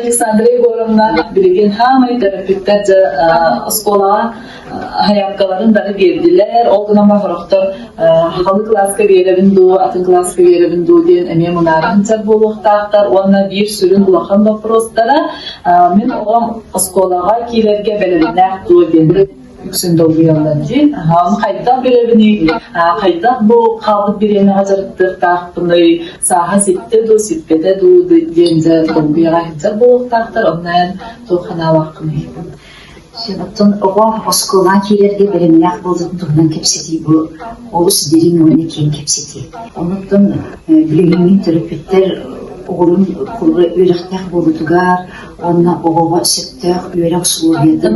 Александра Егоровна билигин хаамай төрөппүттэр дьэ оскуолаҕа аһаяккаларын бары биэрдилэр. Ол гынан бар сорохтор сахалыы кылааска биэрэбин дуу, атын кылааска биэрэбин дуу диэн эмиэ мунааран сыр буолуохтаахтар уонна биир сүрүн улахан боппуруостара мин оҕом оскуолаҕа киирэргэ бэлэмнээх дуо диэн үксүн долгуйаллар дьин ону хайдах билэбиний хайдах бу хаалбыт бириэмэҕэ дьарыктыахтаахпыный сааһа ситтэ дуу сиппэтэ дуу диэн дьэ долгуйаҕа иһдэр буолуохтаахтар оннуйан туох санаалаахпыный оттон оҕо оскуолаҕа киирэргэ бэлэмнээх буолбутун туһунан кэпсэтии бу олус дириҥ уонна киэҥ кэпсэтии онуттан билиҥҥи төрөппүттэр оҕолорун үөрэхтээх буолуутугар уонна оҕоҕо сөптөөх үөрэх усулуобуйатын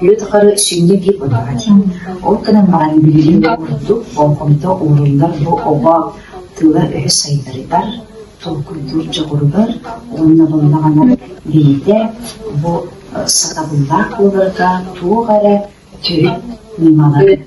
үлэ тухары сиҥҥэ биир быһаарар. Ол гынан баран билигин да курдук болҕомто ууруллар бу оҕо тыла-өһө сайдарыгар, толкуйдуур дьоҕуругар уонна булунаҕына бэйэтэ бу сатабыллаах буоларга туох эрэ төрүт ньымалары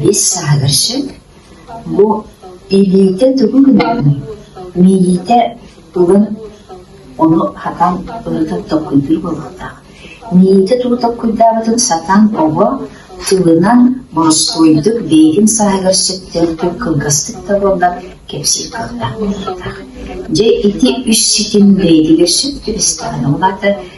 Бис саһыгырчыт, бу илиитэ тугу гыныаҕын, мииһитэ тугун ону хатан ырыта толкуйдуур буолуохтаах. Мииһитэ тугу толкуйдаабытын сатаан оҕо тылынан боростуойдук бэйэтин саһыгырчыттыын түҥ кылгастык да буоллар кэпсиир кыахтаах буолуохтаах. Дьэ ити үс ситим бэйэтигэр сөп түбэстэҕинэ улаатар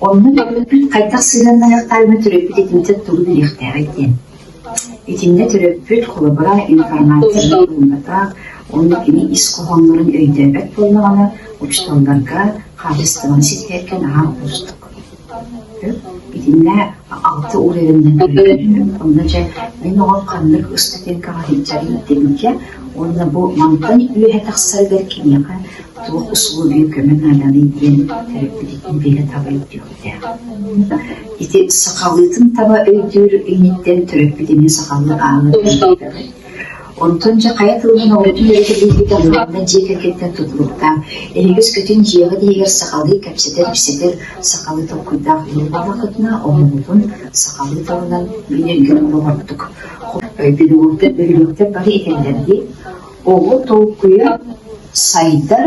Онно Дьөгүөркүн хайдах сыһыаннаһыахтааҕын төрөппүт итинтэн тугу билиэхтээҕий диэн. Итиннэ төрөппүт холобура информацияны ылынбатах, онно кини ис хоһооннорун өйдөөбөт буоллаҕына, учууталларга хаачыстыбаны ситиһэргэ наһаа уустук. Итиннэ Алта уу эрэннэн өлөрдүм, онно дьэ мин оҕом ханнык ыстатыйкаҕа сылдьарын тэбиитэ уонна бу мантан үөһэ тахсарыгар киниэхэ туох усулуобуйа көмө нааданый диэн төрөппүтүттэн бииргэ табылдьыахтаах. Ити сахалыытын таба өйдүүр инниттэн төрөппүт эмиэ сахалыы аалын Онтон дьэ хайа тылынан оҕотун өрүтэ билбит Абылаана дьиэ кэргэттэн тутулуктаах, эһигис көтүн дьиэҕит иһигэр сахалыы кэпсэтэр-ипсэтэр сахалыы толкуйдаах Ньурбаҕа кытына омугутун сахалыы тылынан билэргэ олоҕурдук. Өйдөбүллүктэр бөһүлүктэр бары этэллэр дии, оҕо толкуйа сайдар,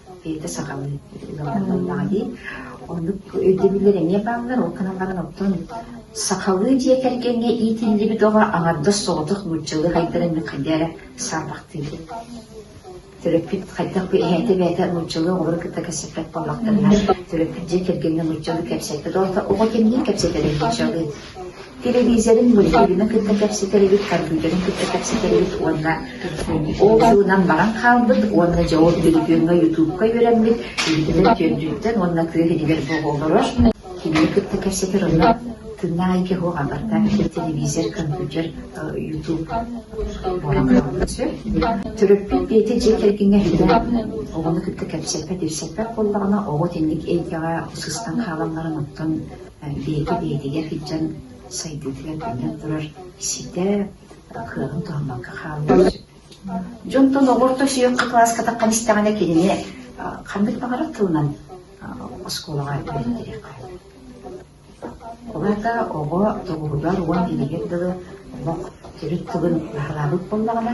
Ити сахабын ылаллаҕа дии. Оннук өйдөбүллэр эмиэ бааллар. Ол гынан баран оттон сахалыы дьиэ кэргэҥҥэ иитиллибит оҕо аҥардас соҕотох нууччалыы хайдарын хайдыы эрэ саарбахтыыбын. Төрөппүт хайдах бу эһээтэ бэйэтэ нууччалыы оҕолору кытта кэпсэппэт буоллахтарына, төрөппүт дьиэ кэргэҥҥэ нууччалыы кэпсэппэт. Оҕо кэннин кэпсэтэрин нууччалыы Тэлэбиисэрин былиһигины кытта кэпсэтэрибит, компьютерин кытта кэпсэтэрибит уонна ол сылынан баран хаалбыт уонна дьоҕур телефиҥҥэ, ютубка үөрэммит биитилэр түөрдүттэн уонна тыа иһигэр боҕолоро кинини кытта кэпсэтэр онно тыына айгы хоҕа барта телевизор, компьютер, ютуб буолан хаалбыт төрөппүт биэти дьиэ кэргэҥҥэ билэн оҕону кытта кэпсэппэт, ипсэппэт буоллаҕына оҕо тэнник эйгэҕэ сыстан хаалалларын оттон Бэйэтэ бэйэтигэр сылдьан сайдыытыгар төннөн турар ситэ кыаҕын туһаммакка хааллар. Дьонтон оҕорто сүөккэ кылааска таххан истэҕинэ кинини ханнык баҕарар тылынан оскуолаҕа үөрэттэриэххэ. Улаата оҕо тоҕуһугар уон илигир тылы олох төрүт тылын баһылаабыт буоллаҕына,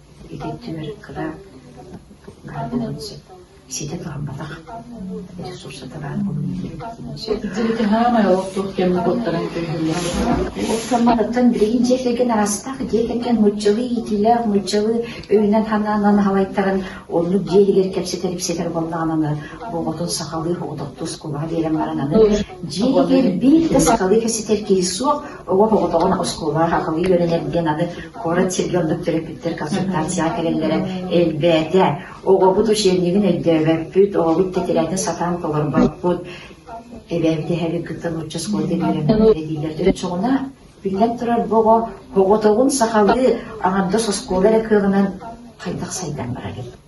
Итинтимэр кылаат наадатын сөп. Ситэ турумматах ресурсата баар буолуон сөп. Итинтэ саамай олохтуох кэмҥэ куттаран көннүллэр. Охсомматыттан билигин дьиэ кэргэн араастаах дьиэ кэргэн нууччалыы иитиилээх нууччалыы өйүнэн-санаанынан аһалайтаран оннук дьиэлигэр кэпсэтэр ипсэтэр буоллаҕына оҕотун сахалыы оҕототтуу оскуолаҕа биэрэн баран аны дьиэ кэргэн биир да сахалыы кэпсэтэр киһи суох Оҕо оҕотоҕун оскуолаҕа хахалыы үөрэнэр диэн аны куорат сиргэ оннук төрөппүттэр консультацияҕа кэлэллэрэ элбээтэ. Оҕобут учебнигын өйдөөбөппүт, оҕобут тэтирээтэ сатаан толорбоппут. Эбээбит эһэбит кытта нуучча оскуолата үөрэммитэ диилэр. Төрүччэҕинэ биллэн турар бу оҕо оҕотоҕун сахалыы аҥардас оскуола эрэ кыаҕынан хайдах сайдан барар эбит.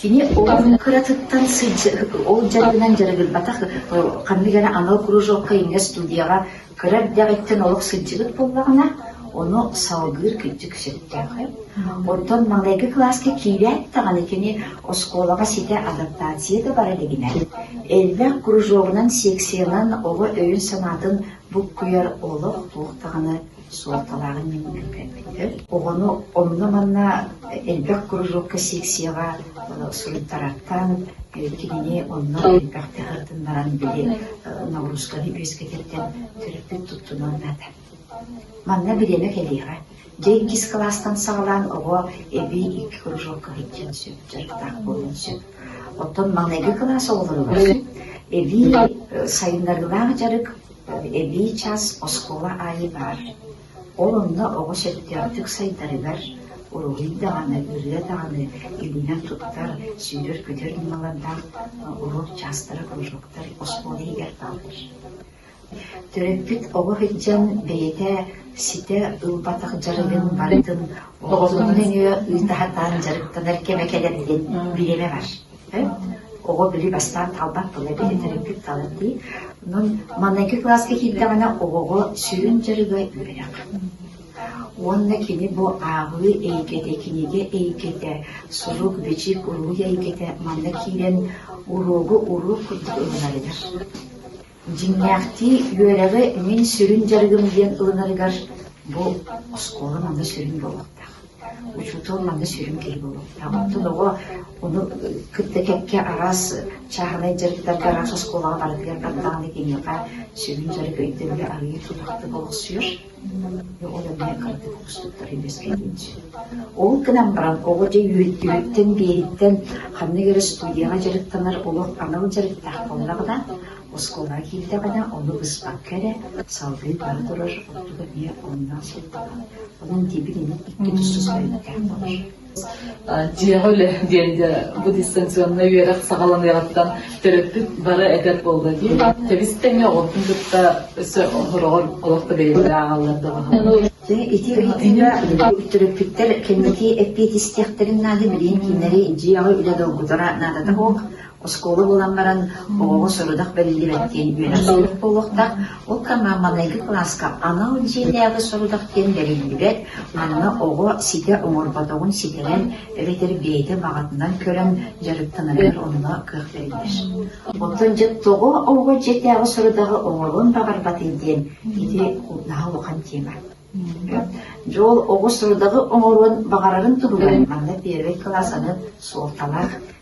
Кини ол кыратыттан ол дьарыгынан дьарыгырбатах ханнык эрэ анал кружокка ингэ студияҕа кыра эрдэҕиттэн олох сылдьыбыт буоллаҕына, ону салгыыр күндүк сөптөөх. Оттон маленький класска киирээт даҕаны кини оскуолаҕа ситэ адаптация да бара илигинэ, элбэх кружогунан, секциянан оҕо өйүн-санаатын буккуйар олох туох даҕаны суолталааҕын минньинэн кэлбиттэр. Оҕону онно-манна элбэх кружокка, секцияҕа суруйтарартан, кинини онно элбэхтик ытыннаран били нагрузканы үөскэтэртэн төрөппүт туттунуон наада. Манна бириэмэ кэлиэҕэ. Дьэ иккис кылаастан саҕалаан оҕо эбии икки кружокка сылдьыан сөп, дьарыктаах буолуон сөп. Оттон маҥнайгы кылаас оҕолоругар эбии э, сайыннарыылаах дьарык Эбии чаас оскуола аайы баар, ол онно оҕо сөптөөхтүк сайдарыгар, уруһуй даҕаны, ырыа даҕаны иҥнэр-туттар, сүүрэр-көтөр ньымалардаах уруок чаастара кружоктар оскуола иһигэр бааллар. Төрөппүт оҕо сылдьан бэйэтэ ситэ ылбатах дьарыгын барытын оҕотун нөҥүө ыытаһатаан дьарыктанар кэмэ кэлэрин билимэ бар. Эт, оҕо били бастаан талбат тыла дии, төрөппүт тала дии. Онон маныаки кылааска киирдэҕинэ оҕоҕо сүрүн дьарыга үөрэх. Уонна кини бу ааҕыы эйгэтэ, кинигэ эйгэтэ, сурук-бичик, уруһуй эйгэтэ манна киирэн уруогу уруук курдук ылынарыгар. Дьиҥнээхтии үөрэҕи мин сүрүн дьарыгым диэн ылынарыгар бу оскуола манна сүрүн буолуохтаах. Учуутал манна сүрүн киһи буолуохтаах. Оттон оҕо ону кытта кэккэ араас чааһынай дьарыктарга, араас оскуолаҕа барытыгар даҕаны киниэхэ сүрүн дьарык өйдөбүлэ арыйыы тутахта олохсуйар. Ол гынан баран оҕо дьэ үөйдүүрүттэн биэриттэн ханнык эрэ студияҕа дьарыктанар олох анал дьарыктаах буоллаҕына, оскуолаҕа киирдэҕинэ ону быспакка эрэ салгыы бара турар ордук эмиэ оннук сылтаҕа. Онон диэбит инник икки тус тустарыйдаах болор дьиэҕэ үлэ диэҥҥэ бу дистанционнай үөрэх саҕаланыаҕыттан төрөппүт бары эдэр буолла дии. Тэбис тэҥэ оҕотун кытта өссө сороҕор олох да бэйэлэрэ ааҕаллар да баҕалар. Ити ыйытыыга төрөппүттэр кэнники эппиэтистиэхтэрин наада билиэн кинилэри дьиэҕэ үлэ долгутара наадата суох. Оскуола булан баран оҕоҕо сорудах бэриллибэт диэн үөрэхсийбит буолуохтаах, ол кэмҥэ маҥнайгы кылааска анал дьиэлээҕи сорудах диэн бэриллибэт, манна оҕо ситэ оҥорботоҕун ситэрэн эбэтэр бэйэтэ баҕатынан көрөн дьарыктанарыгар онно кыах бэриллэр. Оттон дьэ тоҕо оҕо дьиэтээҕи сорудаҕы оҥоруон баҕарбатый диэн ити наһаа улахан тиэмэ. Дьол оҕо сорудаҕы оҥоруон баҕарарын туһугар манна первый кылаас аны суолталаах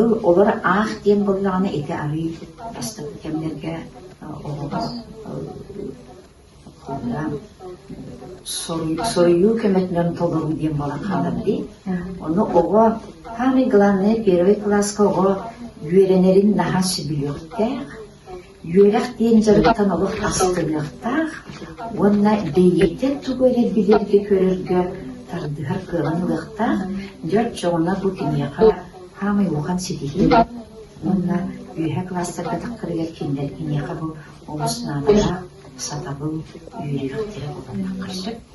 Ыл олор аах диэн буоллаҕына ити арыый бастакы кэмнэргэ оҕоҕор соруйуу көмөтүнэн толоруу диэн буолан хаалар дии. Ону оҕо самый главное первый класска оҕо үөрэнэрин наһаа сөбүлүөхтээх. Үөрэх диэн дьарыктан олох астыныахтаах уонна бэйиэтин тугу эрэ билэргэ-көрөргө тардыһар кыалан ылыахтаах дьэр дьоҕуна бу киниэхэ хаамай улахан ситиһии уонна үөһэ классарга тахтарыгар кинилэр киниэхэ бу олус наадалаах сатабыл үөрүйэхтэрэ буолуохтара сөп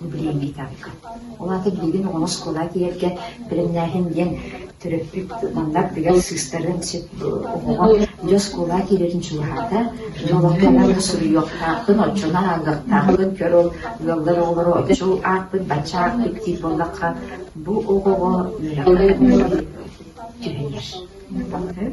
Бу билиэҥҥэ итэҕэккэ. Ол аата билигин оҕону оскуола тиийэргэ бэлэмнээһин диэн төрөппүт манна бигэр сыыстарын сөп оҕоҕо дьэ оскуола киирэрин чугаһаата дьэ олохтонон суруйуохтаахпын оччону ааҥгахтаахпын көр ол ыаллар оҕолору оччо аахпыт бачча аахпыт диир буоллахха бу оҕоҕо үөрэххэ түһэнэр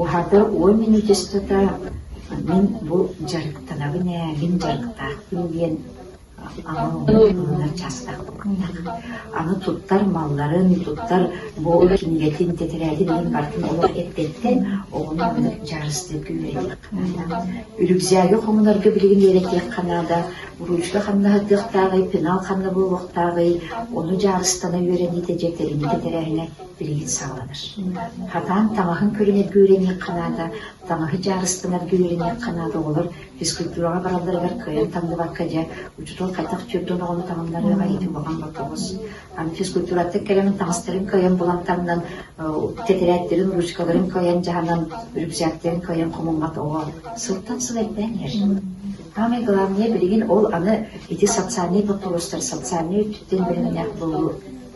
Уһата уон минутистата мин бу дьарыктанабын ээ, мин дьарыктаахпын диэн аҥы чаастаахпын. Аны туттар малларын, туттар бу кинигэтин тэтэрээтин мин бартын олох эппэттэн оҕону онно дьарыстыы күүрэдиэх. Үрүкзээги хомунарга билигин үөрэтиэххэ наада, уруучка хамнаһытыахтааҕый, пенал ханна буолуохтааҕый, ону дьаарыстана үөрэниитэ дьэ кэриҥи тэтэрээһинэ билигин саҕаланар. Хатаан таҥаһын көрүнэргэ үөрэниэх ханаата, таҥаһы дьаарыстанарга үөрэниэх ханаата оҕолор физкультураҕа баралларыгар кыайан тахсыбакка дьэ учуутал хайдах түөртүн оҕону таҥыннарыаҕа иитин баҕан боппоҕос. Аны физкультураттан кэлэн таҥастарын кыайан булан таҥнан тэтэрээттэрин ручкаларын кыайан дьаһанан рюкзактарын кыайан хомуммат оҕо сылтан сыл элбээн иһэр. Самое главное билигин ол аны ити социальный боппоҕостор социальный өттүттэн бэлэмнээх буолуу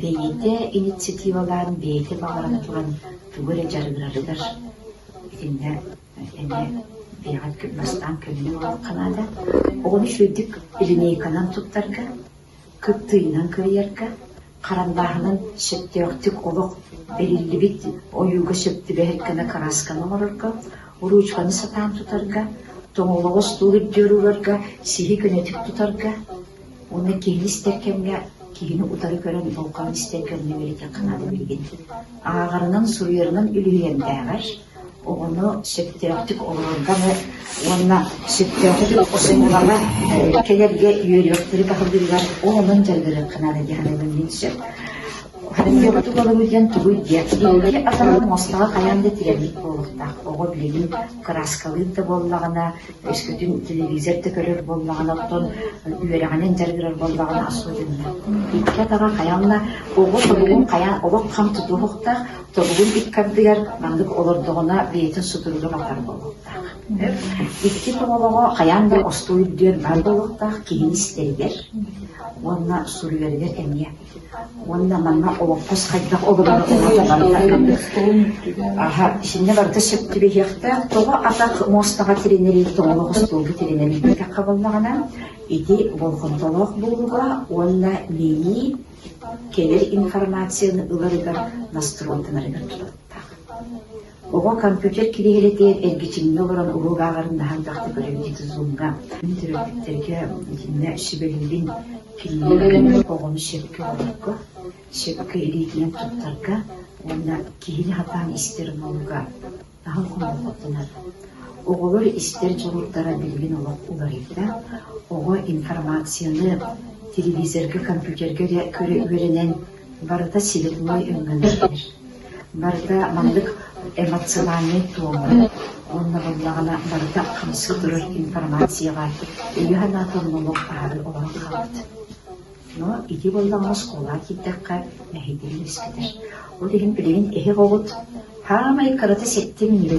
Бэйэтэ инициативалаан бэйэтэ баҕаран туран тугу эрэ дьарыгырарыгар итиннэ эмиэ бэйэҕит бастаан көрүнэ олоруохха наада. Оҕону үчүгэйдик линейканан туттарга, кыптыыйынан кыайарга, хараллааһынын сөптөөхтүк олох бэриллибит ойууга сөп түбэһэр гына кыраасканы оҥорорго, уруучканы сатаан тутарга, тоҥолоҕо остуол үрдүгэр уурарга, сиһи көнөтүк тутарга Уонна киһини истэр кэмҥэ киһини утары көрөн болҕомто истэр кэмҥэ үөрэтэххэ наада билигин. Ааҕарынан, суруйарынан үлүһүйэрдээҕэр оҕону сөптөөхтүк олорорго эмэ уонна сөптөөхтүк охсуһулана кэлэргэ үөрүйэхтэри баһылыылар ол онон дьарыгырыахха наада диэхинэбин мин сөп. Харандыа тулалыгытыйан тугуй диэн диэки атынан мостаҕа хайаан да тиийэммит буолуохтаах. Оҕо билигин кырааскалыыр да буоллаҕына, өскөтүн телевизор да көрөр буоллаҕына, оттон үөрэҕинэн дьарыгырар буоллаҕына asuутунна. Икки атаҕа хайанна, оҕо тобугун хайаан, олох хам тутуһуохтаах, тобугун икки ардыгар маннык олордоҕуна бэйэтин сутуругун атар буолуохтаах. Икки тоҕолоҕо хайаан да остуойдүөн баар буолуохтаах киһи истэригэр уонна суруйарыгар эмиэ Уонна манна олоппос хайдах олорор оҕото барыта көмөр. Аһа, итиннэ барыта сөп түбэһиэхтээх. Тоҕо атах муостаҕа тирэнэрий, тоҕо хостуолга тирэнэн ииппэтэххэ буоллаҕына, ити болҕомтолоох буолууга уонна миини кэлэр информацияны ыларыгар, настройтанарыгар тутаттаах. Оҕо компьютер кириэһилэтигэр эргичиҥҥэ олорон уруок ааҕарындаһан тахса көрөөччү Zoom-га төрөппүттэргэ итиннэ сүбэлиирин кинилэр гынан оҕону сөпкө олорорго, сөпкө илиитинэн туттарга уонна киһини хатаан истэр муннуга аһын хомолҕотунар. Оҕолор истэр дьоруурдара билигин олох уларыйда. Оҕо информацияны телевизорга, компьютерга эрэ көрө үөрэнэн Барыта сири-туой өҥөлөһөр, барыта маннык эмоциональнай туомалар, онно буллаҕына барыта хамсыы турар информацияҕа өйө-санаа толмолук аһары олорон хаалбыт. Но ити буоллаҕына оскуолаҕа киирдэххэ мэһэйдэрин үөскэтэр. Ол иһин билигин эһиги оҕут хаамай кырата ситтин ньире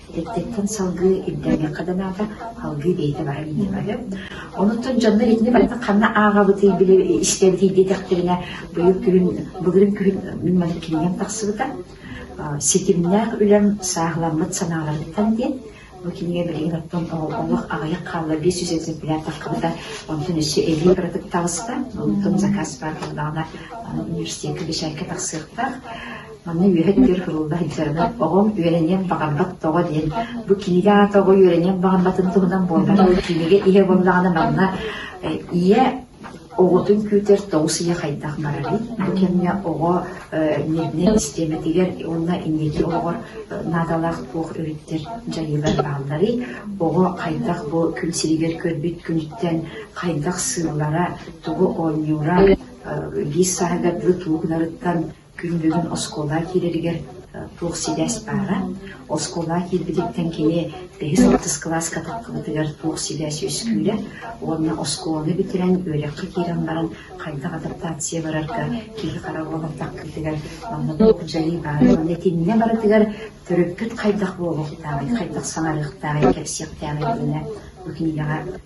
Ититтэн салгыы ирдээниэххэ да наада, салгыы бэйэтэ баран иһиэҕэ. Онуттан дьоннор итини барытын ханна ааҕабытый, били истэбитий диэтэхтэринэ, быйыл күһүн, былырыын күһүн мин маннык кинигэм тахсыбыта. Ситимнээх үлэм сааһыламмыт санааларыттан диэн бу кинигэ билигин оттон олох аҕыйах хаалла биэс жүз экземпляр таххыбыта онтон өссө эбии кыратык таҕыста онтон заказ баар буоллаҕына университекка бэчээккэ тахсыахтаах Аны үөһэ түһэр кырылла сылдьарынан оҕом үөрэниэх баҕарбат тоҕо диэн бу кинигэ аата оҕо үөрэниэх баҕарбатын туһунан буолбатах. Кинигэ иһэ буоллаҕына манна ийэ оҕотун күүтэр тоҕус ийэ хайдах барарый? Бу кэмҥэ оҕо нервнэй систиэмэтигэр уонна инники оҕоҕор наадалаах туох өрүттэр дьайыылар баалларый? Оҕо хайдах бу күн сиригэр көрбүт күнүттэн хайдах сыылара, тугу оонньуура, биир сааһыгар тылы тугунарыттан Күн-дьылын оскуола киирэригэр туох сибээс баара. Оскуола киирбититтэн кини бэһис алтыс кылааска тапталытыгар туох сибээс үөскүүрэ уонна оскуоланы бүтэрэн үөрэххэ киирэн баран хайдах адаптация барарга киһи хара буола таккыытыгар манна дьайыы баара уонна итиннэ барытыгар төрөппүт хайдах буола кутаабай, хайдах саҥарыахтааҕый, кэпсиэхтээҕий диэнэ бу кинигэҕэ